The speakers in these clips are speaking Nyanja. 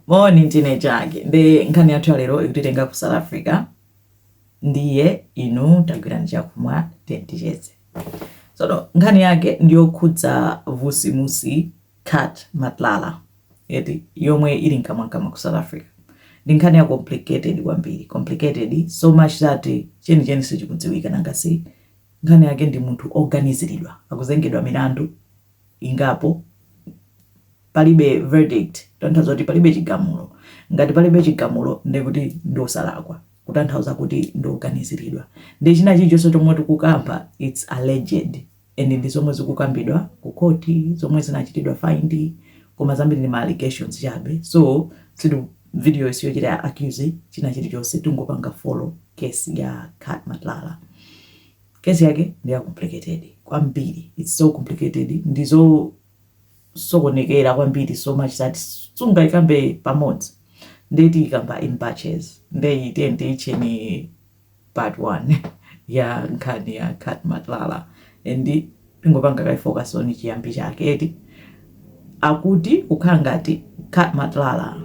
moni ndine Chake nde nkhani yathu ya lero ikutitenga ku south africa ndiye inu tagwirani chakhumwa tenticheze sono nkhani yake ndiyokhudza vusimusi cat matlala eti yomwe ili mkamwamkamwa ku south africa ndi nkhani ya complicated kwambiri complicated so much that chenicheni sichikudziwika nanga si nkhani yake ndi munthu oganiziridwa akuzengedwa milandu ingapo Palibe verdict, kutanthauza kuti palibe chigamulo. Ngati palibe chigamulo ndiye kuti ndi osalakwa, kutanthauza kuti ndi oganiziridwa. Ndiye china chilichonse chomwe tikukamba its alleged and ndi zomwe zikukambidwa ku court, zomwe zinachitidwa find koma zambiri ndi ma allegations chabe. So sitiku- video yi siyochita accuse china chilichonse tingopanga follow case ya Cat Matlala. Case yake ndi ya complicated kwambiri, its so complicated ndi zo- sokonekera kwambiri so much that sungaikambe pamodzi nde tiikamba in batches nde iyi tiyeni tiitcheni part 1 ya nkhani ya cat matlala and tingopanga kaye focus on chiyambi chake eti akuti kukhala ngati cat matlala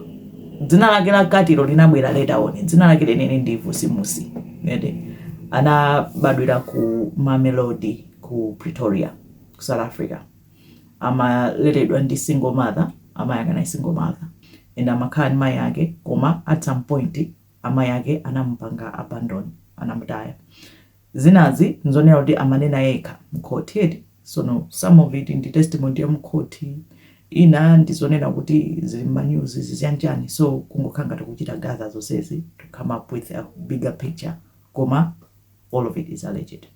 dzina lake la cat-lo linabwera later on dzina lake lenene ndi vusimusi eti anabadwira ku mamelodi ku pretoria ku south africa amaleredwa ndi single mother amayi ake anali single mother and amakhala ndi mayi ake koma at some point amayi ake anamupanga abandon anamutaya zinazi nzonena kuti amanena yekha mkhoti eti sono some of it ndi testimony ya mkhoti ina ndizonena kuti zili mmanyuzi zichanichani so kungokhala ngati kuchita gather zonsezi to come up with a bigger picture koma all of it is alleged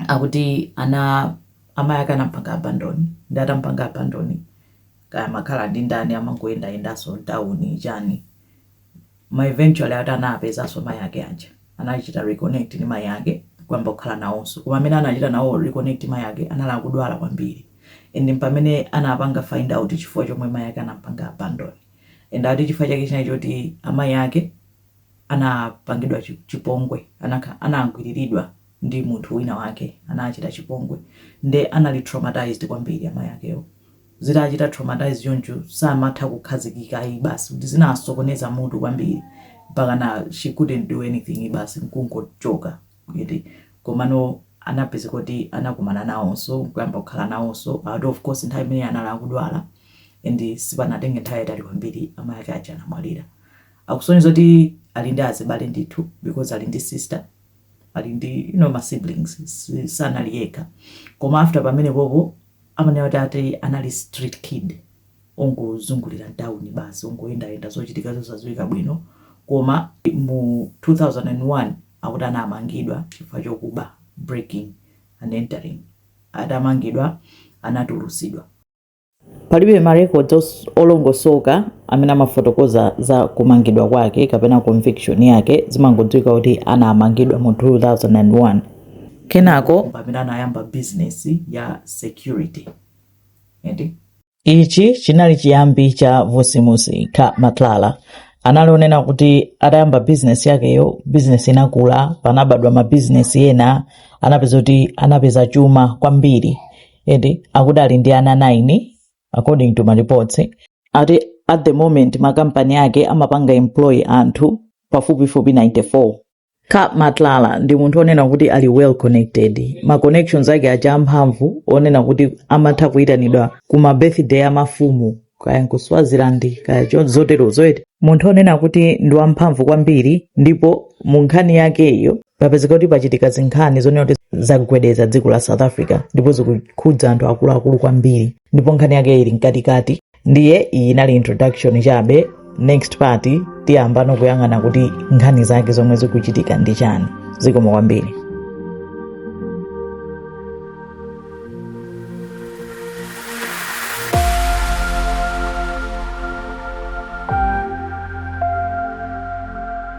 akuti ana amayi ake anampanga abandon ndi atampanga abandon kaya amakhala ndi ndani amangoyendayendanso mtawuni chani koma eventually ati anapezanso mayi ake aja anachita reconnect ndi mayi ake kuyamba kukhala nawonso koma mmene anachita nawo reconnect mayi ake anali akudwala kwambiri and mpamene anapanga find out chifukwa chomwe mayi ake anampanga abandon and ati chifukwa chake chinali choti amayi ake anapangidwa chi- chipongwe anakha- anagwiriridwa ndi munthu wina wake anawachita chipongwe nde anali traumatized kwambiri amayi akewo zitawachita traumatize choncho samatha kukhazikika ayi basi kuti zinawasokoneza mutu kwambiri mpakana she couldn't do anything basi nkungochoka eti komano anapezeka kuti anakumana nawonso nkuyamba kukhala nawonso although of course nthawi imeneyo anali akudwala and sipanatenge nthawi yayitali kwambiri amayi ake aja anamwalira akusonyeza kuti ali ndi azibale ndithu because ali ndi sister ali ndi you know ma siblings si- sanali yekha koma after pamenepopo amanena kuti ati anali street kid ongozungulira mtawuni basi ongoyendayenda zochitika zosadziwika bwino koma mu 2001 akuti anamangidwa chifukwa chokuba breaking and entering atamangidwa anatulusidwa Palibe marecords os- olongosoka amene amafotokoza za kumangidwa kwake kapena conviction yake zimangodziwika kuti anamangidwa mu 2001 kenako pamene anayamba business ya security eti ichi chinali chiyambi cha vusimusi Cat Matlala anali onena kuti atayamba bizinesi yakeyo bizinesi inakula panabadwa mabizinesi ena anapeza kuti anapeza chuma kwambiri eti akuti ali ndi ana 9 according to mareports ati at the moment makampani ake amapanga employ anthu pafupifupi 94 Cat Matlala ndi munthu onena kuti ali well connected ma connections ake aja amphamvu onena kuti amatha kuyitanidwa ku ma birthday a mafumu kaya nku Swaziland kaya cho- zotero zoyeti munthu onena kuti ndi wamphamvu kwambiri ndipo mu nkhani yakeyo papezeka kuti pachitika zinkhani zonena kuti zagwedeza dziko la south africa ndipo zikukhudza anthu akuluakulu kwambiri ndipo nkhani yake ili mkatikati ndiye iyi inali introduction chabe next part tiyamba no kuyang'ana kuti nkhani zake zomwe zikuchitika ndi chani zikomo kwambiri